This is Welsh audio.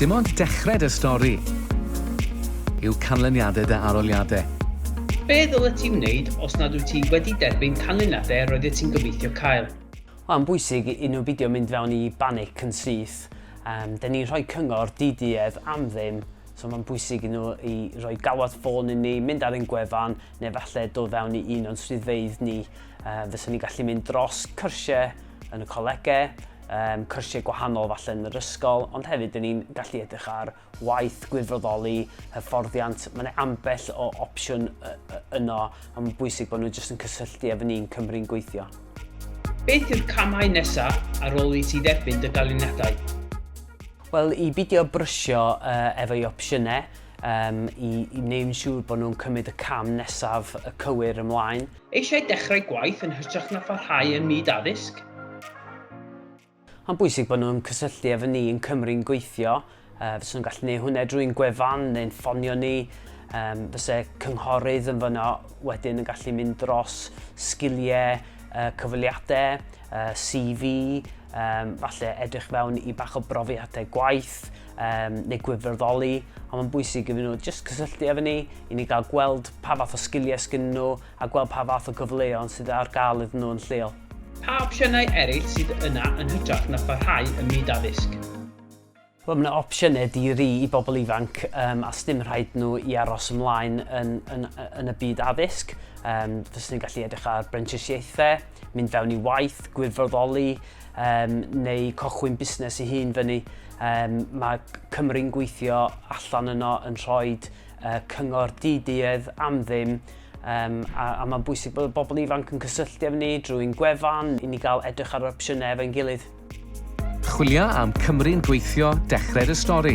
Dim ond dechrau dy stori yw canlyniadau dy aroliadau. Be ddylet ti wneud os nad wyt ti wedi derbyn canlyniadau yr oeddet ti'n gobeithio cael? Mae'n bwysig i nhw beidio mynd fewn i banic yn syth. Yym, 'da ni'n rhoi cyngor di-duedd am ddim, so mae'n bwysig i nhw i roi galwad ffôn i ni, mynd ar ein gwefan, neu falle dod fewn i un o'n swyddfeydd ni. Yy, fyswn ni'n gallu mynd dros cyrsiau yn y colegau, um, cyrsiau gwahanol falle yn yr ysgol, ond hefyd dyn ni'n gallu edrych ar waith, gwirfoddoli, hyfforddiant, mae yna ambell o opsiwn yno, ond mae'n bwysig bod nhw jyst yn cysylltu efo ni'n Cymru'n gweithio. Beth yw'r camau nesaf ar ôl i ti dderbyn dy galiniadau? Wel, i bidio brysio uh, efo i opsiynau, um, i, i wneud yn siŵr bod nhw'n cymryd y cam nesaf y cywir ymlaen. Eisiau dechrau gwaith yn hytrach na pharhau ym myd addysg? Mae'n bwysig bod nhw'n cysylltu efo ni yn Cymru'n gweithio. Uh, fysa nhw'n gallu gwneud hwnna drwy'n gwefan neu'n ffonio ni. Um, fysa cynghorydd yn fyno wedyn yn gallu mynd dros sgiliau, uh, cyfweliadau, uh, CV, um, falle edrych fewn i bach o brofiadau gwaith, um, neu gwirfoddoli, a mae'n bwysig iddyn nhw jyst cysylltu efo ni, i ni gael gweld pa fath o sgiliau sgyn nhw a gweld pa fath o gyfleoedd sydd ar gael iddyn nhw yn lleol. Pa opsiynau eraill sydd yna yn hytrach na pharhau ym myd addysg? Wel, mae yna opsiynau di-ri i bobl ifanc um, a sdim rhaid nhw i aros ymlaen yn, yn, yn y byd addysg. Um, Fyswn ni'n gallu edrych ar brentisiaethau, mynd fewn i waith, gwirfoddoli, um, neu cochwyn busnes ei hun fyny. Um, mae Cymru'n gweithio allan yno yn rhoi uh, cyngor di-duedd am ddim Um, a, a mae'n bwysig bod bobl ifanc yn cysylltu efo ni drwy'n gwefan i ni gael edrych ar opsiynau efo'n gilydd. Chwilio am Cymru'n gweithio, dechrau'r y stori.